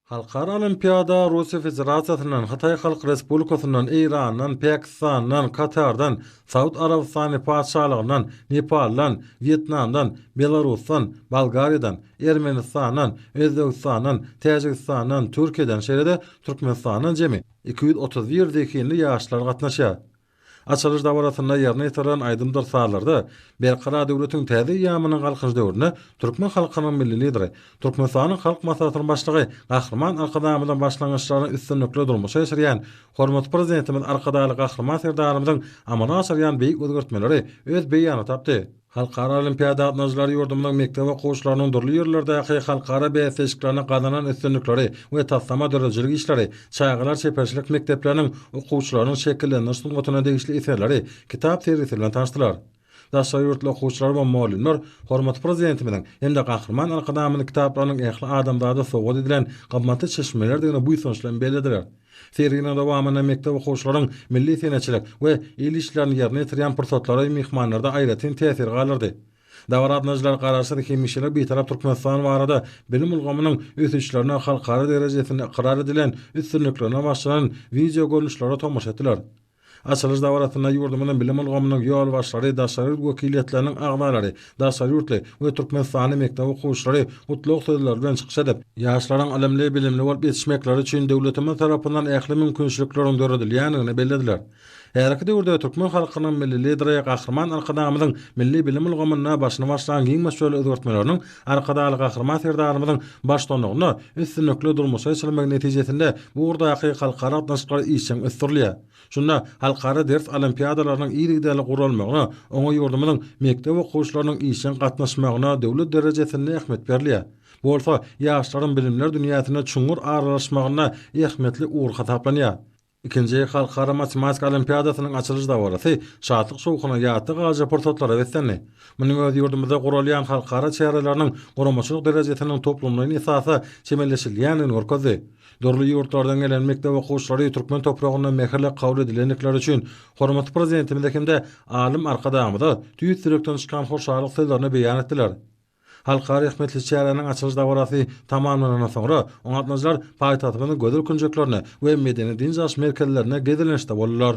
Halkara olimpiada Russiýa Federasiýasyndan, Hytaý Halk Respublikasyndan, Eýrandan, Pakistandan, Katardan, Saud Arabystany Patyşalygyndan, Nepaldan, Wýetnamdan, Belarusdan, Bolgariýadan, Ermenistandan, Özbegistandan, Täjigistandan, Türkiýeden, şeýle-de Türkmenistandan jemi iki ýüz otuz bir zehinli ýaşlar gatnaşýar. Açylyş dabarasynda ýerine ýetirilen aýdymdyr-sazlarda Berkarar döwletiň täze eýýamynyň Galkynyş döwründe türkmen halkynyň Milli Lideri, Türkmenistanyň Halk Maslahatynyň Başlygy Gahryman Arkadagymyzyň başlangyçlaryny üstünlikli durmuşa geçirýän hormatly Prezidentimiz Arkadagly Gahryman Serdarymyzyň amala aşyrýan beýik özgertmeleri öz beýanyny tapdy. Halkara olimpiada gatnaşyjylary ýurdumyzyň mekdep okuwçylarynyň dürli ýerlerdäki halkara bäsleşiklerinde gazanan üstünlikleri we taslama döredijilik işleri, çagalar çeperçilik mekdepleriniň okuwçylarynyň şekillendiriş sungatyna degişli eserleri, kitap sergisi bilen tanyşdylar. Daşary ýurtly okuwçylar we mugallymlar hormatly Prezidentimiziň hem-de Gahryman Arkadagymyzyň kitaplarynyň ähli adamzada sowgat edilen gymmatly çeşmelerdigini buýsanç bilen bellediler. Serginiň dowamynda mekdep okuwçylaryň milli senetçilik we el işlerini ýerine ýetirýän pursatlary myhmanlarda aýratyn täsir galdyrdy. Dabaraatnacylar Garaşsyz, hemişelik Bitarap Türkmenistan barada bilim ulgamynyň ösüşlerine, halkara derejesinde ykrar edilen üstünliklerine başlanan wideogörnüşlere tomaşa etdiler. Açylyş dabarasynda ýurdumyzyň bilim ulgamynyň ýolbaşçylary, daşary ýurt wekiliýetleriniň agzalary, daşary ýurtly we türkmenistanly mekdep okuwçylary gutlag sözleri bilen çykyş edip, ýaşlaryň ylymly, bilimli bolup ýetişmekleri üçin döwletimiz tarapyndan ähli mümkinçilikleriň döredilýändigini bellediler. Häzirki döwürde türkmen halkynyň Milli Lideri Gahryman Arkadagymyzyň milli bilim ulgamynda başyny başlan giň möçberli özgertmeleriniň Arkadagly Gahryman Serdarymyzyň baştutanlygynda üstünlikli durmuşa geçirilmegi netijesinde bu ugurdaky halkara gatnaşyklar işjeň ösdürilýär. Şunda halkara ders olimpiadalarynyň yzygiderli guralmagyna, oňa ýurdumyzyň mekdep okuwçylarynyň işjeň gatnaşmagyna döwlet derejesinde ähmiýet berilýär. Bu bolsa ýaşlaryň bilimler dünýäsine çuňňur aralaşmagynda ähmiýetli ugur hasaplanýar. Ikinji Halkara matematika olimpiadasynyň açylyş dabarasy şatlyk-şowhuna, ýatda galyjy pursatlara beslendi. Munuň özi ýurdumyzda guralýan halkara çäreleriniň guramaçylyk derejesiniň toplumlaýyn esasda kemilleşdirilýändigini görkezdi. Dürli ýurtlardan gelen mekdep okuwçylary türkmen topragyna mähirle kabul edilendikleri üçin hormatly Prezidentimize hem-de alym Arkadagymyza tüýs ýürekden çykan hoşallyk sözlerini beýan etdiler. Halka rehmetli çäräniň açylyş dabarasy tamamlanandan soňra, oňatlyjylar paýtagtymyzyň gözel künjeklerine we medeni-dynç alyş merkezlerine gezelençde boldular.